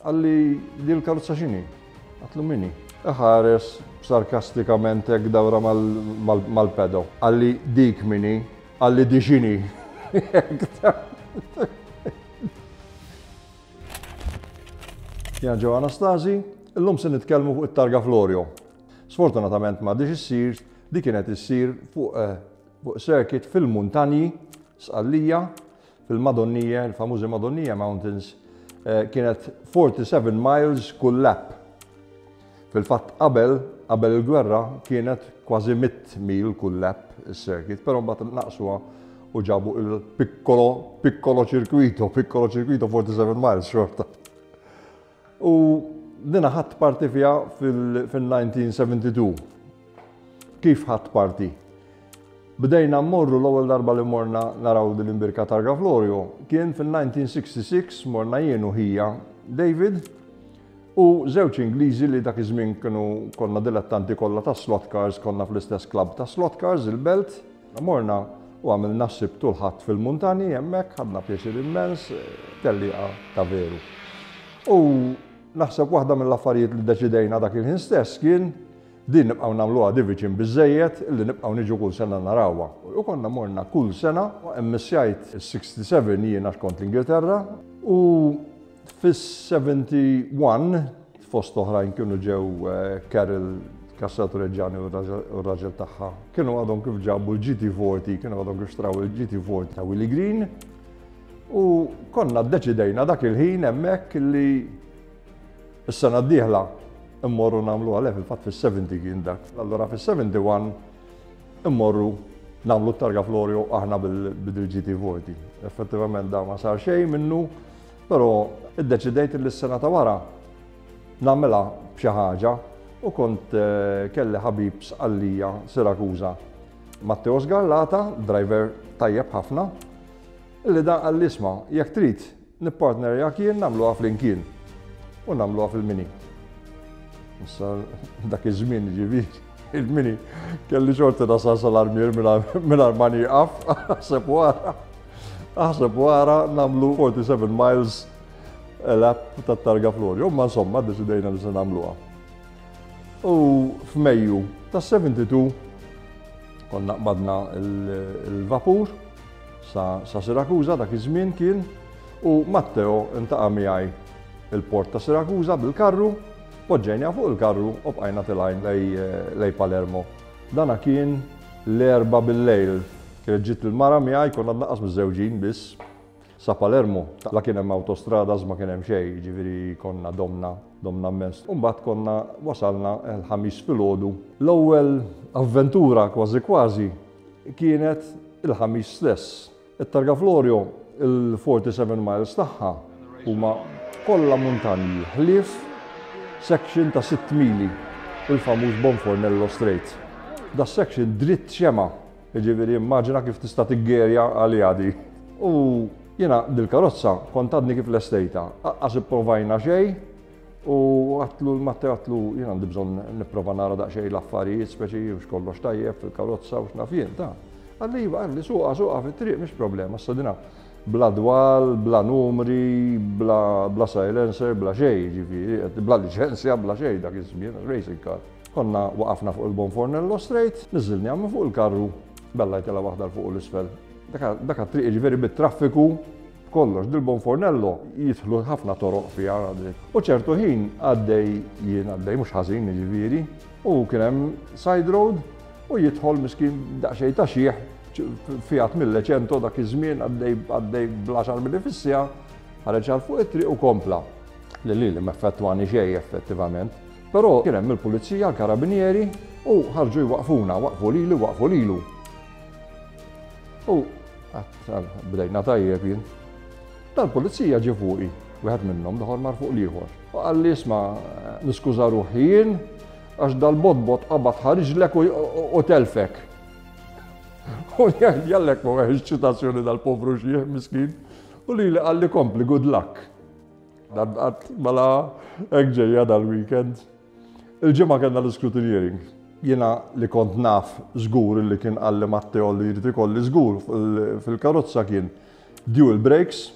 Qalli, Din il-karozza x'inhi? Għatlu minni? Iħares sarkastikament hekk dawra mal-pedo. Qalli, Dik minni? Qalli, Di x'inhi? Jena ġew Anastasi, illum se nitkellmu fuq it-targa Florio. Sfortunatament ma diġ issir, di kienet issir fuq eh, circuit fil-muntanji, sqallija, Fil-Madonnija, il-famużi Madonnija Mountains, eh, kienet 47 miles kull lap. Fil-fatt qabel, qabel il-gwerra kienet kważi 100 mil kull lap is-circuit, però mbagħad naqsuha u ġabu il-piccolo, piccolo circuito, piccolo circuito 47 miles xorta. U dina ħadd parti fiha fil-1972. Kif ħadd parti? Bdejna mmorru l-ewwel darba li morna naraw din l-imbirka targa Florio kien fil-1966 morna jien u ħija David u żewġ Ingliżi li dak iż-żmien kienu konna dilettanti kollha ta' slot cars konna fl-istess klabb ta' slot cars il-Belt Morna u għamilna s-Sibt u l-Ħadd fil-muntanji hemmhekk, ħadna pjaċir immens, tellieqa ta' veru. U naħseb waħda mill-affarijiet li deċidejna dak il-ħin stess kien din nibqgħu nagħmluha di viċin biżżejjed illi nibqgħu niġu kull sena narawha. U konna morna kull sena, immissjajt is-67 jiena x'kont l-Ingilterra u Fis-71, fost oħrajn kienu ġew Carol Cassel Tureġġani u r-raġel tagħha. Kienu għadhom kif ġabu l-GT40, kienu għadhom kif xtraw il-GT40 ta' Willie Green. U konna ddeċidejna dak il-ħin hemmhekk li s-sena d-dieħla immorru nagħmlu għalhekk fil-fatt fis-70 kien dak. Allura fis-71 immorru nagħmlu t-targa Florio aħna bil-GT40. Effettivament da ma sar xejn minnu. Però iddeċidejt li s-sena ta' wara nagħmilha b'xi ħaġa u kont eh, kelli ħabib sqallija Sirakuża. Matteo Sgarlata, driver tajjeb ħafna, illi dan għall isma jekk trid nippartnerjak jien nagħmluha flimkien u nagħmluha fil-mini. Issa dak iż-żmien ġifieri. Il-mini, kelli xorti nasal sal-armier minn armani għaf, għasab wara, għasab wara namlu 47 miles l-app ta' targa Florio, ma insomma deċidejna li se namluha. U f'Mejju ta' 72 konna qbadna il-vapur sa Sirakuza dak iż-żmien kien u Matteo intaqa' miegħi il-port ta' Sirakuza bil-karru Poġġejniha fuq il-karru u bqajna tilgħin lejn Palermo. Dana kien l-Erbgħa bil-lejl. Kienet ġiet il-mara miegħi, konna tnaqqas miżżewġin biss. Sa Palermo, la kien hemm awtostrada ma kien hemm xejn, jiġifieri konna domna, domna mmens. U mbagħad konna wasalna l-Ħamis filgħodu. L-ewwel avventura kważi kważi kienet il-Ħamis stess. It-targa Florio, il-47 miles tagħha huma kollha muntanji ħlief section ta' sitt mili, il-famuż Bonfornello Strait. Das-section dritt xema', jiġifieri immaġina kif tista' tiggerja għaliha di. U jiena dil-karozza kont għadni kif lestejtha, aqqas ipprovajna xejn, U għatlu l-Matte għatlu, jien għandi bżon niprofa nara daqxej l-affarijiet, speċi u xkollox tajjeb fil-karozza u xnafjien ta' Għalli jiva, għalli suqa, suqa fit-triq, mish problema, s-sadina. Bla dwal, bla numri, bla, bla silencer, bla xej, ġifiri, bla licenzja, bla xej, dak iż-żmien, racing car. Konna waqafna fuq il-Bon Fornello Street, nizzilni għamma fuq il-karru, bella jtela waħda l-fuq u l-isfel. Daka triq ġifiri bit-traffiku, B'kollox, dil-Buon Fornello jidħlu ħafna toroq fiha dik. U ċertu ħin għaddej jien għaddej mhux ħażin jiġifieri, u kien hemm side road u jidħol miskin daqsxejn ta' xieħ fiat mill-leċento dak iż-żmien għaddej bl-10 mili fis-sija, ħareġ għal fuq it-triq u kompla. Li li li meffettwani xejn effettivament. Però kien hemm il-pulizija, l-karabinieri u ħarġu jwaqfuna, waqfu lili, waqfu lilu. U Bdejna tajjeb jien. Tal-pulizija ġie fuqi, wieħed minnhom l-ieħor mar fuq l-ieħor. U qal li isma' niskuża ruħi jien għax dal-botbot qabad ħariġlek u telfek. U jgħallek ma weħx ċitazzjoni dal-povru xieħ miskin u li li qalli kompli good luck. Dan qatt mela hekk ġejja dal-weekend. Il-Ġimgħa kellna l-iscrutineering. Jiena li kont naf żgur illi kien qalli Matteo li jrid ikolli żgur fil-karozza kien dual brakes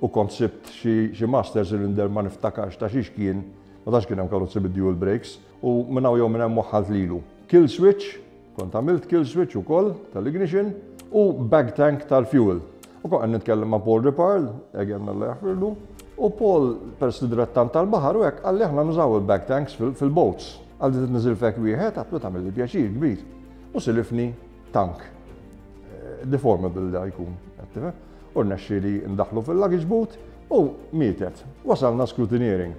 u kont sibt xi master cylinder ma niftakarx ta' xiex kien, ma tantx kien hemm karozzi bid-dual brakes, u minn hawn jew minn hemm waħħalt lilu. Kill switch, Kont għamilt kill switch ukoll tal-ignition u bag tank tal-fuel. U kont qed nitkellem ma' Paul Riparl, again Alla jaħfirlu, u Paul peress li direttant tal-baħar u hekk qalli aħna nużaw il-bag tanks fil-boats. Għal dit niżil fek wieħed għatlu tagħmel li pjaċir kbir. U silifni tank. Eh, deformable li jkun, għattife. U rnexxi li ndaħlu fil-luggage boot u mietet. Wasalna scrutineering.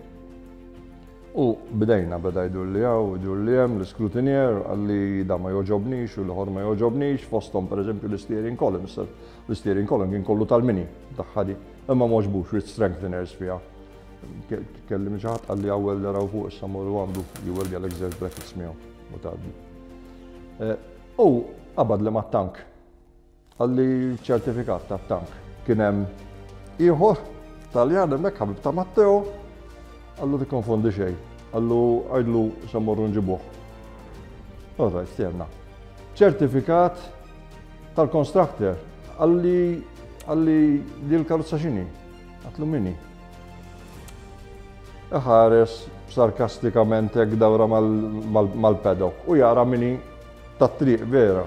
U bdejna, beda jdur li hawn u jdur li hemm, l-iscrutineer qal li dan ma jogħġobnix u l-ieħor ma jogħġobnix, fosthom pereżempju l-isteering column, issa l-isteering column kien kollu tal-mini tagħha di, imma m'għoġbux with strengtheners fiha. Tkellimni xi ħadd qal li hawn welder hawn fuq issa mur u għandu jweldi għalhekk żewġ brackets miegħu u tgħaddi. U qabad li mat-tank. Qal li ċ-ċertifikat tat-tank kien hemm ieħor Taljan hemmhekk ħabib ta' Matteo, qallu tikkonfondi xejn, qallu għidlu se mmorru nġibuh. All right, stjerna. Ċertifikat tal-constructor qalli qalli li l-karozza xini, għatlu minni. Ħares sarkastikament hekk dawra mal-pedok u jara minni tat-triq vera.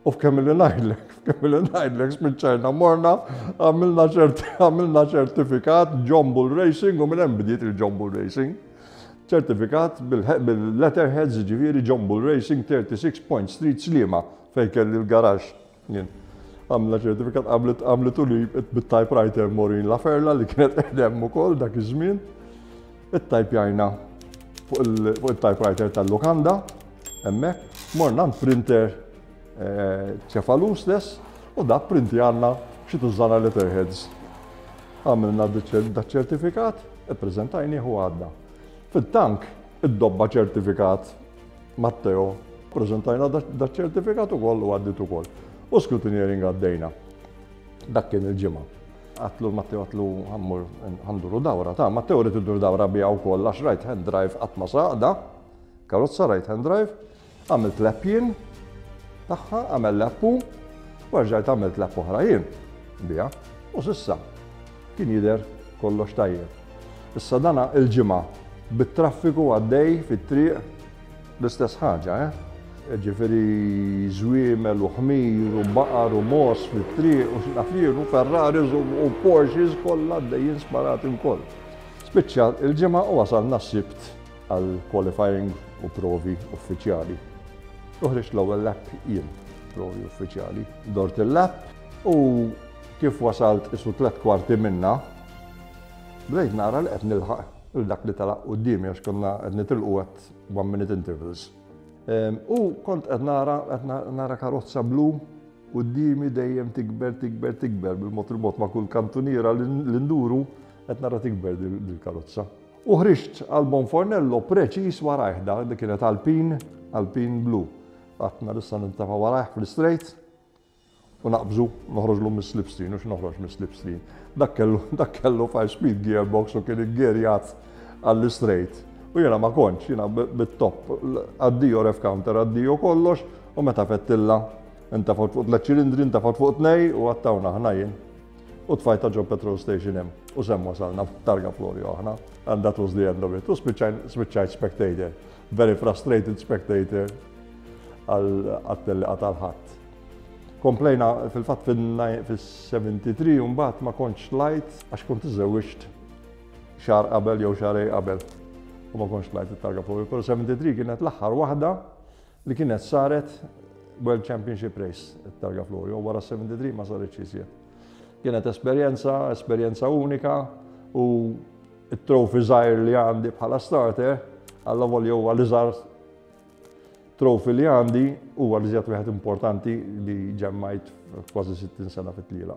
U f'kemm li ngħidlek, f'kemm li ngħidlek spiċċajna morna, għamilna ċertifikat John Bull Racing u minn hemm bdiet il-John Bull Racing. Ċertifikat bil-letterheads ġifieri John Bull Racing 36 Point Street Slima fejn kelli l-garax. Għamilna ċertifikat għamlet u li bit-typewriter Morin Laferla li kienet qedem ukoll dak iż-żmien. Ittajpjajna fuq il-typewriter tal-lukanda, hemmhekk, morna għand printer ċefalu eh, stess u dak printi għandna xi tużana letterheads. Għamilna daċ-ċertifikat, ippreżentajni u għadda. Fil-tank, id-dobba ċertifikat Matteo, prezentajna daċ-ċertifikat u kollu għaddit u koll. U scrutineering għaddejna. Dak kien il-ġimgħa. Għatlu Matteo għatlu għammur għanduru dawra ta' Matteo rrid iddur dawra bija wkoll għax right hand drive qatt ma saqda. Karozza right hand drive. Għamilt lap jien tagħha għamel lappu u rġajt għamilt lap oħra jien bija u sissa kien jidher kollox tajjeb. Issa dana il-ġimgħa bit-traffiku għaddej fit-triq L-istess ħaġa, eh? Jiġifieri żwiemel u ħmir u baqar u mogħoż fit-triq u x'naf jien u Ferraris u Porsches kollha għaddejjin sparati wkoll. Spiċċa il-ġimgħa u wasalna s-Sibt għal qualifying u provi uffiċjali. Uħriġt l-ewwel lap jien, provi uffiċjali. Dort il-lap u kif wasalt isu tliet kwarti minna, bdejt nara li qed nilħaq il-dak li talaq qudiemi għax konna qed nitilqu qed One minute intervals. U kont qed nara qed nara karozza blu u d-dimi dejjem tikber, tikber, tikber bil-mod il-mod ma' kull kantuniera l-induru qed nara tikber dil-karozza. U ħriġt għal Bonfornello preċis warajh da li kienet Alpin, Alpin blu. Għatna nista' nintafa warajh fl-istrejt U naqbżu, noħroġlu mis-slipstream, u x'noħroġ mis-slipstream. Dak kellu, dak kellu five speed gearbox u kien iggerjat għall-istrejt. U jiena ma kontx, jiena bit-top, addio rev counter, addio kollox, u meta fettilla, intefgħu fuq tliet ċilindri, intefgħu fuq tnej u għattawna aħna jien. U tfajta ġo petrol station hemm. U sem wasalna targa Florio aħna. And that was the end of it. U spiċċajt spectator. Very frustrated spectator għal-telliqa tal-ħadd. Komplejna fil-fatt fil-73 u mbagħad ma kontx lajt għax kont iżewwiġt xar qabel jew xarej qabel. U ma kontx lajt it-targa Power Pro 73 kienet l-aħħar waħda li kienet saret World Championship Race it-targa Florio wara 73 ma saritx iżjed. Kienet esperjenza, esperjenza unika u it-trofi żgħir li għandi bħala starter għalla volja huwa li żgħar Trophy li għandi huwa li żjed wieħed importanti li ġemmajt kważi 60 sena fit-tliela.